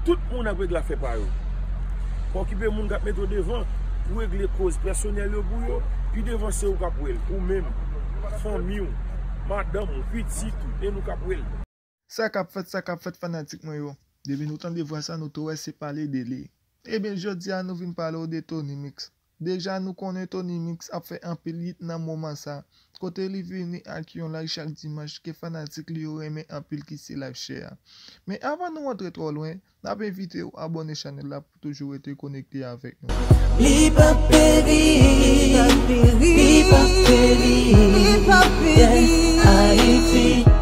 Tout moun ap regle afè pa yo. Pa okipe moun kap mete w devan pou regle koz pèsonèl yo pou yo, pi devan se ou kap wè l, ou menm, fanmi w, madanm ou, pitit ou, e nou kap wè l. Sa kap fèt, sa kap fèt fanatik mwen yo. Depi nou tande vwa sa nou tou wè se pale de li. Ebyen jodi a nou vin pale w de Tony Mix. Deja nou konnen Tony Mix ap fè anpil yit nan moman sa, kote li vini ak yon live chak dimanch ke fanatik li yo renmen anpil ki se live chè a. Men avan nou antre twò lwen, nap envite ou abòne chanèl la pou toujou rete konekte avèk nou. Li pap peri, li pap peri, li pap peri, yeah Ayiti.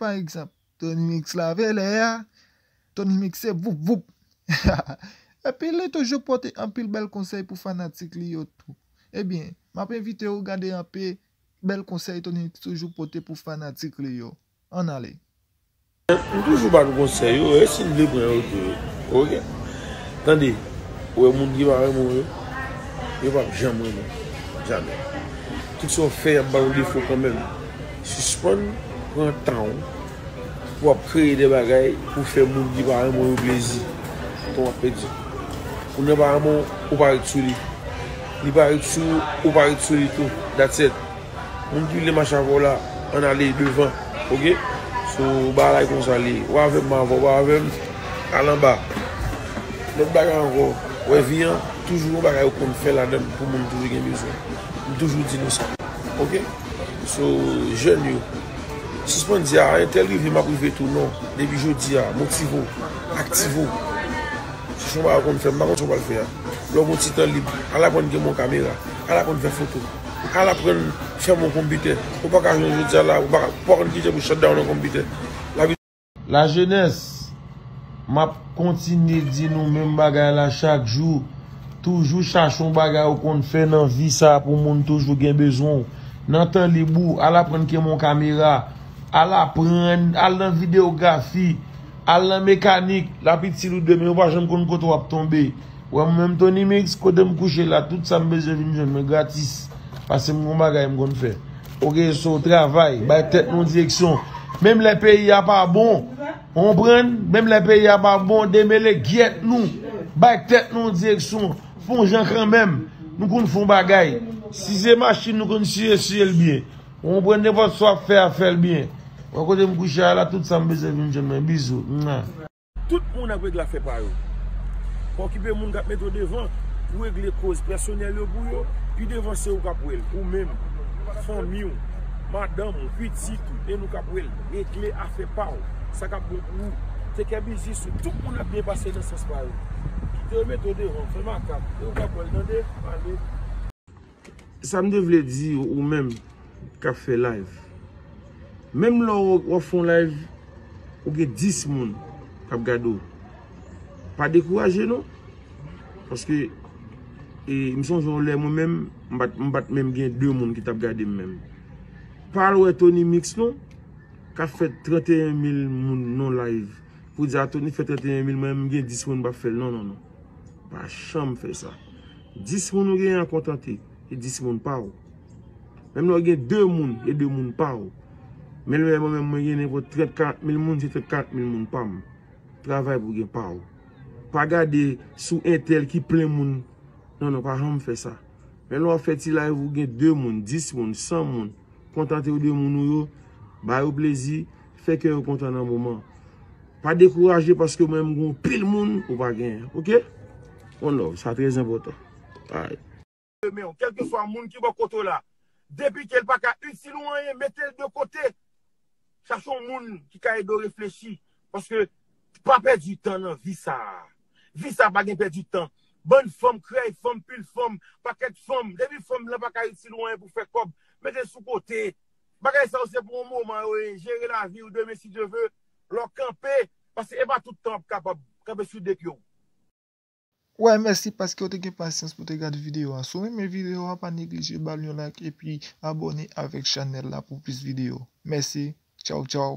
Pa egzanp, Tony Mix lave lè a, Tony Mix se voup voup! Epi li toujou pote anpil bèl konsèy pou fanatik li yo tou. Ebyen, m ap envite ou gade anpe bèl konsèy Tony Mix toujou pote pou fanatik li yo. Ann ale! M toujou ba nou konsèy yo, e si n vle pran yo tou? Ok! Tande, ou wè moun ki pa renmen w yo, yo p ap janm renmen w. Jamè! Kit sa w fè, y ap ba w defo kanmenm. Sispann pran tan w pou ap kreye de bagay pou w fè moun ki pa renmen w yo plezi. Tan w ap pèdi. Moun nan pa renmen w, ou pa ret sou li. Li pa ret sou ou, ou pa ret sou li tou. That's it. Moun ki vle mache avè w la, ann ale devan. Ok? So, bagay konsa li ye. Ou avè m, m avè w. Ou pa avè m, al anba. Lòt bagay ankò, wè vi an, toujou gen bagay ou konn fè ladan l pou moun toujou gen bezwen. M toujou di nou sa. Ok? Sou jèn yo. Sispann di a entèl rive map rive tou non. Depi jodi a motive w, aktive w. Se chwa bagay ou konn fè, m pa konn sa w pral fè a. Lè w gen yon ti tan lib, al aprann genbe yon kamera, al aprann fè foto, al aprann fèmen yon konpitè. Ou pa ka jwenn jodi a la, ou pa konn kije pou shutdown yon konpitè. La jenès, m ap kontinye di nou menm bagay la chak jou, toujou chache yon bagay ou konn fè nan vi sa pou moun toujou gen bezwen w. Nan tan lib ou, al aprann kenbe yon kamera, al aprann, al nan videyografi, al nan mekanik, l ap itil ou demen, ou pa janm konn kote w ap tonbe. Wè mwen menm Tony Mix, kote m kouche la, tout sa m bezwen vin jwenn mwen gratis, paske m gen yon bagay m konn fè. Ok so travay bay tèt nou direksyon menm lè peyi a pa bon ou konprann menm lè peyi a pa bon demele gyèt nou bay tèt nou direksyon fon jan kanmenm nou konn fon bagay si se machin nou konn siye siye l byen ou konprann nenpòt sa w ap fè a fè l byen wè kote m kouche a la tout sa m bezwen vin jwenn mwen bizou. Tout moun ap regle afè pa yo. Pa okipe moun kap mete w devan pou regle koz pèsonèl yo pou yo, pi devan se ou kap wèl, ou menm, fanmi w, madanm ou, pitit ou, e nou kap wèl, regle afè pa w, sa kap bon pou ou, tekè biznis ou, tout moun ap byen pase nan sans pa yo. Kite yo mete w devan, fè makak, e ou kap wèl tande, ale. Sam te vle di ou menm kap fè live menm lè wap fon live ou gen 10 moun kap gade w pa dekouraje non paske m sonje yon lè mwen menm m pat menm gen 2 moun ki tap gade m menm pa al wè Tony mix non kap fè 31 mil moun nan live pou di a Tony fè 31 mil mwen menm m gen 10 moun m pap fè l non non non. Pa janm fè sa. 10 moun ou gen an kontante, e 10 moun pa ou. Menm lè ou gen 2 moun, e 2 moun pa ou. Menm lè mwen menm mwen gen nenpòt 30, 40 mil moun, se 30, 40 mil moun pa m. Travay pou gen pa ou. Pa gade sou entèl ki plen moun. Non, non, pa janm fè sa. Menm lè ou ap fè ti live ou gen 2 moun, 10 moun, 100 moun, kontante ou de moun ou yo, ba yo plezi. Fè kè yo kontan nan moman. Pa dekouraje paske ou menm gen yon pil moun ou pa genyen ok. One love sa trè enpòtan alright. Renmenw kelkeswa moun ki bò kote w la depi kel paka itil ou anyen metel de kote chache yon moun ki ka edew reflechi paske pa pèdi tan nan vi sa vi sa pa gen pèdi tan bann fanm krèy fanm pil fanm pakèt fanm depi fanm lan paka itil ou anyen pou fè kòb metel sou kote Bagay sa yo se pou yon moman yo ye, jere laviw demen si Dye ve, lè w kanpe, paske e pa tout tan wap kapab kanpe sou 2 pye w. Why mèsi paskew te gen pasyans pou te gad video a. Si w renmen video a pa neglije bal yon like epi abone avek chanel la pou plis video. Mèsi. Tchaw tchaw.